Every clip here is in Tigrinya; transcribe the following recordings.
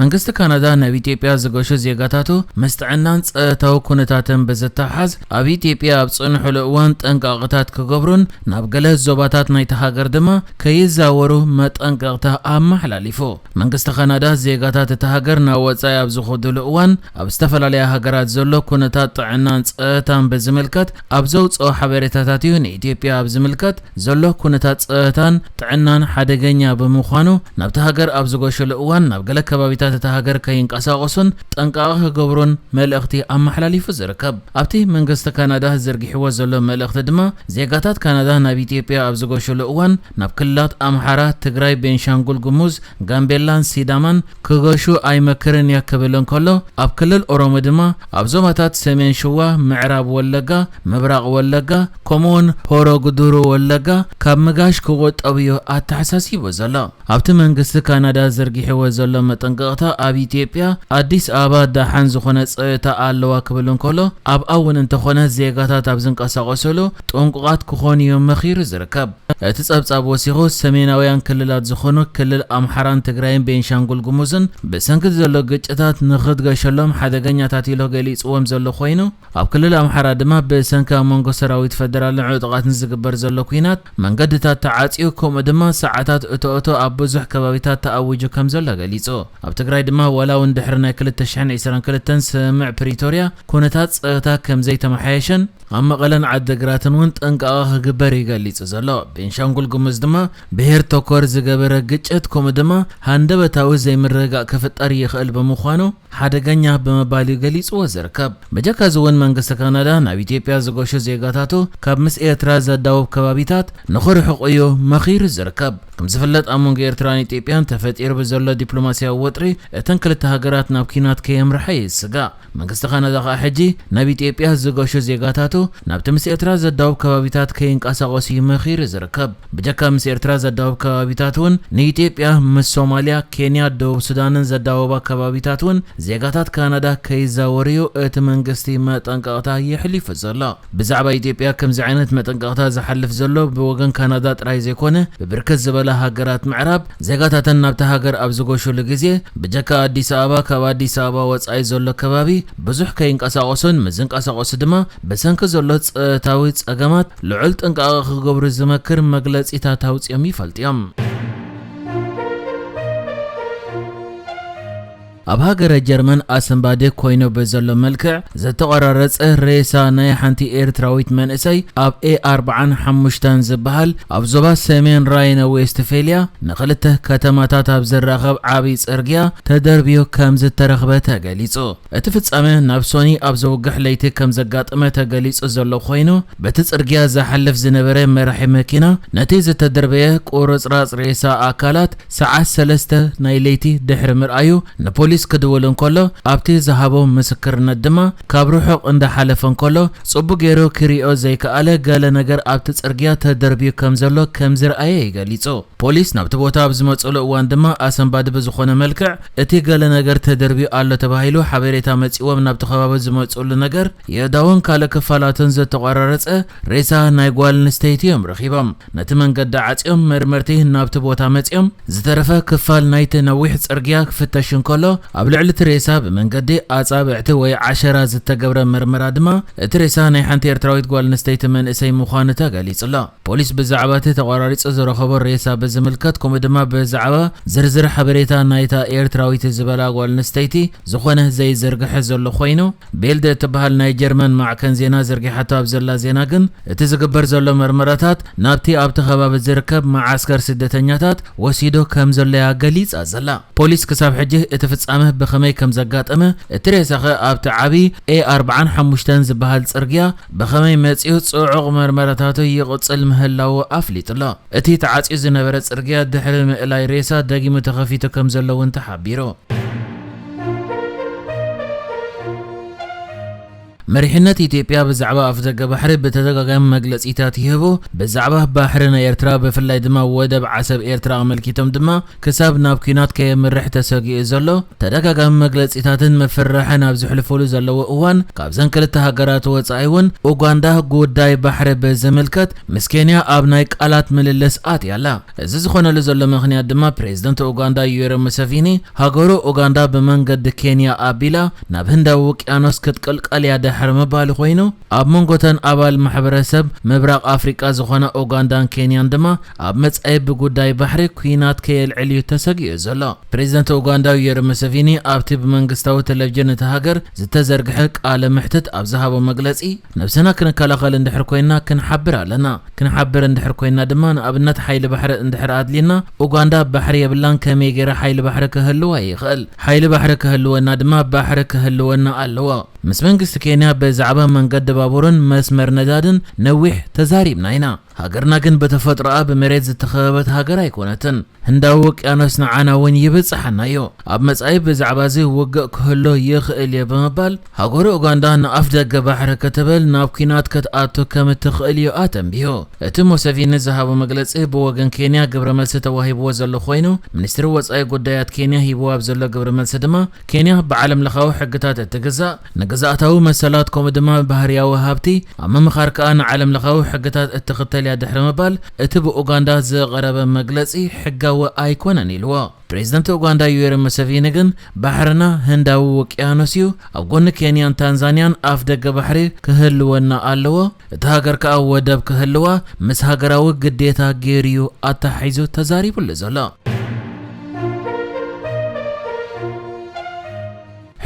መንግስቲ ካናዳ ናብ ኢትዮጵያ ዝገሹ ዜጋታቱ ምስ ጥዕናን ጸታዊ ኩነታትን ብዝተሓሓዝ ኣብ ኢትዮጵያ ኣብ ጽንሑሉ እዋን ጥንቃቐታት ክገብሩን ናብ ገለ ዞባታት ናይቲ ሃገር ድማ ከይዛወሩ መጠንቀቕታ ኣመሓላሊፉ። መንግስቲ ካናዳ ዜጋታት እቲ ሃገር ናብ ወጻኢ ኣብ ዝኹዱሉ እዋን ኣብ ዝተፈላለያ ሃገራት ዘሎ ኩነታት ጥዕናን ጸታን ብዝምልከት ኣብ ዘውጽኦ ሓበሬታታት'ዩ ንኢትዮጵያ ኣብ ዝምልከት ዘሎ ኩነታት ጸጥታን ጥዕናን ሓደገኛ ብምዃኑ ናብታ ሃገር ኣብ ዝጎሸሉ እዋን ናብ ገለ ከባቢታት እታ ሃገር ከይንቀሳቐሱን ጠንቃቐ ክገብሩን መልእኽቲ ኣመሓላሊፉ ዝርከብ። ኣብቲ መንግስቲ ካናዳ ዘርጊሕዎ ዘሎ መልእኽቲ ድማ ዜጋታት ካናዳ ናብ ኢትዮጵያ ኣብ ዝጎሸሉ እዋን ናብ ክልላት ኣምሓራ፣ ትግራይ፣ ቤንሻንጉል ጉሙዝ፣ ጋምቤላን ሲዳማን ክገሹ ኣይመክርን እየ ክብል እንከሎ፣ ኣብ ክልል ኦሮሞ ድማ ኣብ ዞባታት ሰሜን ሽዋ፣ ምዕራብ ወለጋ፣ ምብራቕ ወለጋ ከምኡ'ውን ሆሮ ጉዱሩ ወለጋ ካብ ምጋሽ ክቑጠቡ እዩ ኣተሓሳሲቡ ዘሎ። ኣብቲ መንግስቲ ካናዳ ዘርጊሕዎ ዘሎ መጠንቀቕታ ኣብ ኢትዮጵያ፣ ኣዲስ ኣበባ ደሓን ዝኾነ ጸጥታ ኣለዋ ክብል እንከሎ፣ ኣብኣ እውን እንተኾነ ዜጋታት ኣብ ዝንቀሳቐሱሉ፣ ጥንቁቓት ክኾኑ'ዩ መኺሩ ዝርከብ። እቲ ጸብጻብ ወሲኹ፣ ሰሜናውያን ክልላት ዝኾኑ ክልል ኣምሓራን ትግራይን ቤንሻንጉል ጉሙዝን ብሰንኪ'ቲ ዘሎ ግጭታት ንኽትገሸሎም ሓደገኛታት ኢሎ ገሊጽዎም ዘሎ ኮይኑ፣ ኣብ ክልል ኣምሓራ ድማ ብሰንኪ ኣብ መንጎ ሰራዊት ፈደራልን ዕጡቓትን ዝግበር ዘሎ ኲናት መንገድታት ተዓጽዩ ከምኡ ድማ ሰዓታት እቶ-እቶ ኣብ ብዙሕ ከባቢታት ተኣዊጁ ከምዘሎ ገሊጹ። ኣብ ትግራይ ድማ ዋላ'ውን ድሕሪ ናይ ክልተ ሽሕን ዕስራን ክልተን ስምምዕ ፕሪቶርያ ኩነታት ጸጥታ ከምዘይተመሓየሸን ኣብ መቐለን ዓዲግራትን እውን ጥንቃቐ ክግበር እዩ ገሊፁ ዘሎ። ቤንሻንጉል ጉሙዝ ድማ ብሄር ተኮር ዝገበረ ግጭት ከምኡ ድማ ሃንደበታዊ ዘይምርግጋእ ክፍጠር ይኽእል ብምዃኑ ሓደገኛ ብምባል እዩ ገሊፅዎ ዝርከብ። በጀካ እዚ እውን መንግስቲ ካናዳ ናብ ኢትዮጵያ ዝገሹ ዜጋታቱ ካብ ምስ ኤርትራ ዘዳውብ ከባቢታት ንኽርሕቑ እዩ መኺሩ ዝርከብ። ከምዝፍለጥ ኣብ መንጎ ኤርትራን ኢትዮጵያን ተፈጢሩ ብዘሎ ዲፕሎማሲያዊ ወጥሪ እተን ክልተ ሃገራት ናብ ኲናት ከየምርሐ እዩ ዝስጋእ። መንግስቲ ካናዳ ከኣ ሕጂ ናብ ኢትዮጵያ ዝገሹ ዜጋታቱ ናብቲ ምስ ኤርትራ ዘዳውብ ከባቢታት ከይንቀሳቐሱ እዩ መኺሩ ዝርከብ። ብጀካ ምስ ኤርትራ ዘዳውብ ከባቢታት እውን ንኢትዮጵያ ምስ ሶማልያ፣ ኬንያ፣ ደቡብ ሱዳንን ዘዳውባ ከባቢታት እውን ዜጋታት ካናዳ ከይዛወሩ'ዩ እቲ መንግስቲ መጠንቀቕታ የሕሊፉ ዘሎ። ብዛዕባ ኢትዮጵያ ከምዚ ዓይነት መጠንቀቕታ ዝሓልፍ ዘሎ ብወገን ካናዳ ጥራይ ዘይኮነ ብብርክት ዝበላ ሃገራት ምዕራብ ዜጋታተን ናብታ ሃገር ኣብ ዝጎሹሉ ግዜ ብጀካ ኣዲስ ኣበባ ካብ ኣዲስ ኣበባ ወጻኢ ዘሎ ከባቢ ብዙሕ ከይንቀሳቐሱን ምስ ዝንቀሳቐሱ ድማ ብሰንኪ ዘሎ ጸጥታዊ ጸገማት ልዑል ጥንቃቐ ክገብሩ ዝመክር መግለጺታት ኣውጺኦም ይፈልጡ እዮም። ኣብ ሃገረ ጀርመን ኣሰንባዲ ኮይኑ ብዘሎ መልክዕ ዝተቐራረጸ ሬሳ ናይ ሓንቲ ኤርትራዊት መንእሰይ ኣብ ኤ ኣርብዓን ሓሙሽተን ዝበሃል ኣብ ዞባ ሰሜን ራይነ ዌስትፌልያ ንኽልተ ከተማታት ኣብ ዘራኸብ ዓብዪ ጽርግያ ተደርብዮ ከም ዝተረኽበ ተገሊጹ። እቲ ፍጻመ ናብ ሶኒ ኣብ ዘውግሕ ለይቲ ከም ዘጋጠመ ተገሊጹ ዘሎ ኮይኑ በቲ ጽርግያ ዝሓልፍ ዝነበረ መራሒ መኪና ነቲ ዝተደርበየ ቁርጽራጽ ሬሳ ኣካላት ሰዓት ሰለስተ ናይ ለይቲ ድሕሪ ምርኣዩ ንፖሊስ ክድውል እንከሎ ኣብቲ ዝሃቦ ምስክርነት ድማ ካብ ርሑቕ እንዳሓለፈ እንከሎ ጽቡቕ ጌሩ ክሪኦ ዘይከኣለ ገለ ነገር ኣብቲ ጽርግያ ተደርብዩ ከም ዘሎ ከም ዝርኣየ እዩ ገሊጹ። ፖሊስ ናብቲ ቦታ ኣብ ዝመጽእሉ እዋን ድማ ኣሰንባዲ ብዝኾነ መልክዕ እቲ ገለ ነገር ተደርብዩ ኣሎ ተባሂሉ ሓቤሬታ መጺእዎም ናብቲ ከባቢ ዝመጽእሉ ነገር የእዳውን ካልእ ክፋላቱን ዝተቖራረጸ ሬሳ ናይ ጓልንስተይቲ እዮም ረኺቦም። ነቲ መንገዲ ዓጽዮም መርመርቲ ናብቲ ቦታ መጺኦም ዝተረፈ ክፋል ናይቲ ነዊሕ ጽርግያ ክፍተሽ እንከሎ ኣብ ልዕሊ እቲ ሬሳ ብመንገዲ ኣጻብዕቲ ወይ ዓሸራ ዝተገብረ መርመራ ድማ እቲ ሬሳ ናይ ሓንቲ ኤርትራዊት ጓል ኣንስተይቲ መንእሰይ ምዃኑ ተገሊጹ'ሎ። ፖሊስ ብዛዕባ እቲ ተቖራሪጹ ዝረኸቦ ሬሳ ብዝምልከት ከምኡ ድማ ብዛዕባ ዝርዝር ሓበሬታ ናይታ ኤርትራዊት ዝበላ ጓል ኣንስተይቲ ዝኾነ ዘይዝርግሐ ዘሎ ኮይኑ፣ ቢልድ እትበሃል ናይ ጀርመን ማዕከን ዜና ዘርጊሓቶ ኣብ ዘላ ዜና ግን፣ እቲ ዝግበር ዘሎ መርመራታት ናብቲ ኣብቲ ከባቢ ዝርከብ መዓስከር ስደተኛታት ወሲዱ ከም ዘሎ'ያ ገሊጻ ዘላ። ፖሊስ ክሳብ ሕጂ እቲ ፍጻመ ብኸመይ ከም ዘጋጠመ፣ እቲ ሬሳ'ኸ ኣብቲ ዓቢ ኤ ኣርብዓን ሓሙሽተን ዝበሃል ጽርግያ ብኸመይ መጺኡ ጽዑቕ መርመራታቱ ይቕጽል ምህላዉ ኣፍሊጡ'ሎ። እቲ ተዓጽዩ ዝነበረ ጽርግያ ድሕሪ ምእላይ ሬሳ ደጊሙ ተኸፊቱ ከምዘሎ እውን ተሓቢሩ። መሪሕነት ኢትዮጵያ ብዛዕባ ኣፍደገ ባሕሪ ብተደጋጋሚ መግለጺታት ይህቡ። ብዛዕባ ባሕሪ ናይ ኤርትራ ብፍላይ ድማ ወደብ ዓሰብ ኤርትራ ኣመልኪቶም ድማ ክሳብ ናብ ኲናት ከየምርሕ ተሰጊኡ ዘሎ፣ ተደጋጋሚ መግለጺታትን ምፍርራሕን ኣብ ዝሕልፉሉ ዘለዎ እዋን፣ ካብዘን ክልተ ሃገራት ወጻኢ'ውን ኡጋንዳ ጉዳይ ባሕሪ ብዝምልከት ምስ ኬንያ ኣብ ናይ ቃላት ምልልስ ኣትያ ኣላ። እዚ ዝኾነሉ ዘሎ ምኽንያት ድማ ፕሬዝደንት ኡጋንዳ ዩዌሪ ሙሰቪኒ፣ ሃገሩ ኡጋንዳ ብመንገዲ ኬንያ ኣቢላ ናብ ህንዳዊ ውቅያኖስ ክትቅልቀል'ያ ድሕሪ ምባሉ ኮይኑ፣ ኣብ መንጎ'ተን ኣባል ማሕበረሰብ ምብራቕ ኣፍሪቃ ዝኾና ኡጋንዳን ኬንያን ድማ ኣብ መጻኢ ብጉዳይ ባሕሪ ኲናት ከየልዕል'ዩ ተሰጊኡ ዘሎ። ፕሬዝደንት ኡጋንዳ ዩዌሪ ሙሰቪኒ ኣብቲ ብመንግስታዊ ተለቪዥን እታ ሃገር ዝተዘርግሐ ቃለ መሕትት ኣብ ዝሃቦ መግለጺ ነብስና ክንከላኸል እንድሕር ኮይንና ክንሓብር ኣለና። ክንሓብር እንድሕር ኮይንና ድማ ንኣብነት ሓይሊ ባሕሪ እንድሕር ኣድልዩና ኡጋንዳ ባሕሪ የብላን ከመይ ጌረ ሓይሊ ባሕሪ ክህልዋ ይኽእል? ሓይሊ ባሕሪ ክህልወና ድማ ባሕሪ ክህልወና ኣለዎ። ምስ መንግስቲ ኬንያ ብዛዕባ መንገዲ ባቡርን መስመር ነዳድን ነዊሕ ተዛሪብና ኢና። ሃገርና ግን ብተፈጥሮኣ ብመሬት ዝተኸበበት ሃገር ኣይኮነትን። ህንዳዊ ውቅያኖስ ንዓና እውን ይብጽሓና እዩ። ኣብ መጻኢ ብዛዕባዚ ውግእ ክህሉ ይኽእል እዩ ብምባል፣ ሃገሩ ኡጋንዳ ንኣፍደገ ባሕሪ ክትብል ናብ ኲናት ክትኣቱ ከም እትኽእል እዩ ኣተንቢሁ። እቲ ሙሰቪኒ ዝሃቦ መግለጺ ብወገን ኬንያ ግብረ መልሲ ተዋሂብዎ ዘሎ ኮይኑ፣ ሚኒስትሪ ወጻኢ ጉዳያት ኬንያ ሂብዎ ኣብ ዘሎ ግብረ መልሲ ድማ፣ ኬንያ ብዓለምለኻዊ ሕግታት እትግዛእ፣ ንግዝኣታዊ መሰላት ከምኡ ድማ ባህርያዊ ሃብቲ ኣብ ምምኻር ከኣ ንዓለምለኻዊ ሕግታት እትኽተል እያ ድሕሪ ምባል እቲ ብኡጋንዳ ዝቐረበ መግለጺ ሕጋዊ ኣይኮነን ኢልዎ። ፕሬዝደንት ኡጋንዳ ዩዌሪ ሙሰቪኒ ግን ባሕርና ህንዳዊ ውቅያኖስ እዩ፣ ኣብ ጎኒ ኬንያን ታንዛንያን ኣፍደገ ባሕሪ ክህልወና ኣለዎ፣ እታ ሃገር ከኣ ወደብ ክህልዋ ምስ ሃገራዊ ግዴታ ገይሩ'ዩ ኣተሓሒዙ ተዛሪቡሉ ዘሎ።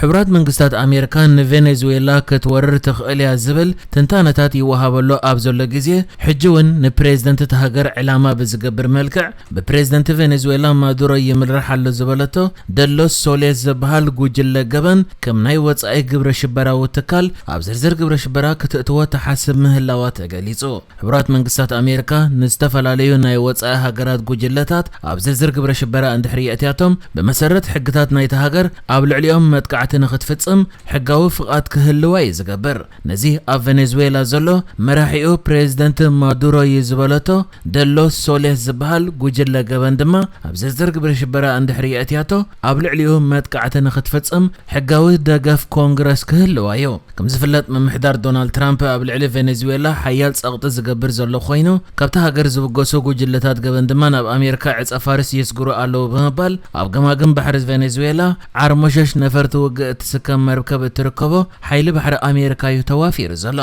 ሕቡራት መንግስታት ኣሜርካ ንቬኔዙዌላ ክትወርር ትኽእል እያ ዝብል ትንታነታት ይወሃበሉ ኣብ ዘሎ ግዜ፣ ሕጂ እውን ንፕሬዝደንት እታ ሃገር ዕላማ ብዝገብር መልክዕ ብፕሬዝደንት ቬኔዙዌላ ማዱሮ ይምራሕ ኣሎ ዝበለቶ ደሎስ ሶሌስ ዝበሃል ጉጅለ ገበን ከም ናይ ወጻኢ ግብረ ሽበራዊ ትካል ኣብ ዝርዝር ግብረ ሽበራ ክተእትዎ ትሓስብ ምህላዋ ተገሊጹ። ሕቡራት መንግስታት ኣሜሪካ ንዝተፈላለዩ ናይ ወጻኢ ሃገራት ጉጅለታት ኣብ ዝርዝር ግብረ ሽበራ እንድሕሪ የእትያቶም ብመሰረት ሕግታት ናይታ ሃገር ኣብ ልዕሊኦም መጥቃዕቲ ንኽትፍጽም ሕጋዊ ፍቓድ ክህልዋ እዩ ዝገብር። ነዚ ኣብ ቨነዝዌላ ዘሎ መራሒኡ ፕረዚደንት ማዱሮ እዩ ዝበለቶ ደሎ ሶሌስ ዝበሃል ጉጅለ ገበን ድማ ኣብ ዝርዝር ግብረ ሽበራ እንድሕሪ የእትያቶ ኣብ ልዕሊኡ መጥቃዕቲ ንኽትፍጽም ሕጋዊ ደገፍ ኮንግረስ ክህልዋ እዩ። ከምዝፍለጥ ምምሕዳር ዶናልድ ትራምፕ ኣብ ልዕሊ ቬኔዙዌላ ሓያል ጸቕጢ ዝገብር ዘሎ ኮይኑ፣ ካብታ ሃገር ዝብገሱ ጉጅለታት ገበን ድማ ናብ ኣሜሪካ ዕጸፋርስ የስግሩ ኣለዉ ብምባል ኣብ ገማግም ባሕሪ ቬኔዙዌላ ዓርሞሸሽ ነፈርቲ ውግእ እትስከም መርከብ እትርከቦ ሓይሊ ባሕሪ ኣሜሪካ እዩ ተዋፊሩ ዘሎ።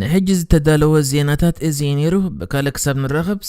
ንሕጂ ዝተዳለወ ዜናታት እዚ እዩ ነይሩ። ብካልእ ክሳብ ንራኸብ!